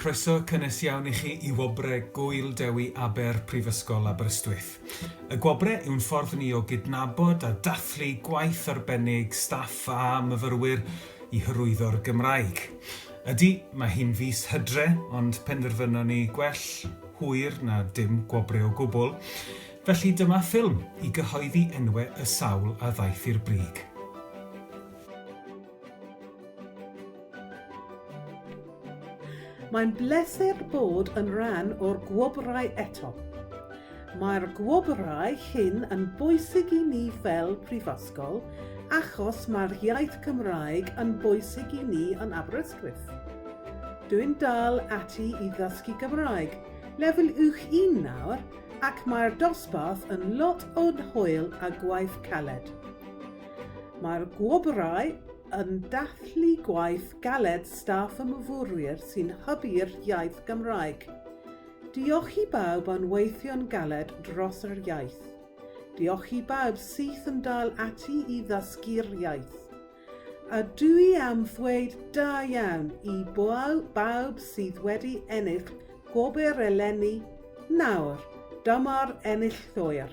Croeso cynnes iawn i chi i Wobre Gŵyl Dewi Aber Prifysgol Aberystwyth. Y Gwobre yw'n ffordd ni o gydnabod a dathlu gwaith arbennig staff a myfyrwyr i hyrwyddo'r Gymraeg. Ydy, mae hi'n fis hydre, ond penderfynon ni gwell hwyr na dim gwobre o gwbl, felly dyma ffilm i gyhoeddi enwe y sawl a ddaeth i'r brig. Mae'n bleser bod yn rhan o'r gwobrau eto. Mae'r gwobrau hyn yn bwysig i ni fel Prifysgol achos mae'r iaith Gymraeg yn bwysig i ni yn Aberystwyth. Dwi'n dal ati i ddysgu Gymraeg, lefel uwch un nawr, ac mae'r dosbarth yn lot o hwyl a gwaith caled. Mae'r gwobrau yn dathlu gwaith galed staff y myfyrwyr sy'n hybu'r iaith Gymraeg. Diolch i bawb yn weithio'n galed dros yr iaith. Diolch i bawb syth yn dal ati i ddysgu'r iaith. A dw i am ddweud da iawn i bawb sydd wedi ennill gwobr eleni nawr, dyma'r enillwyr.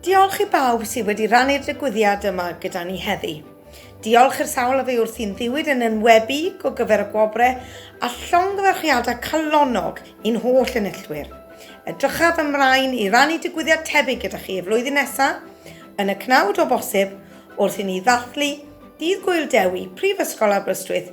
Diolch i bawb sydd wedi rannu'r digwyddiad yma gyda ni heddi. Diolch i'r sawl a fe wrth i'n ddiwyd yn enwebu go gyfer y gwobrau a llongyfarchiadau calonnog i'n holl enillwyr. Edrychaf ymlaen i rannu digwyddiad tebyg gyda chi y flwyddyn nesaf, yn y cnawd o bosib, wrth i ni ddathlu Dydd Gŵyl Dewi Prifysgol Aberystwyth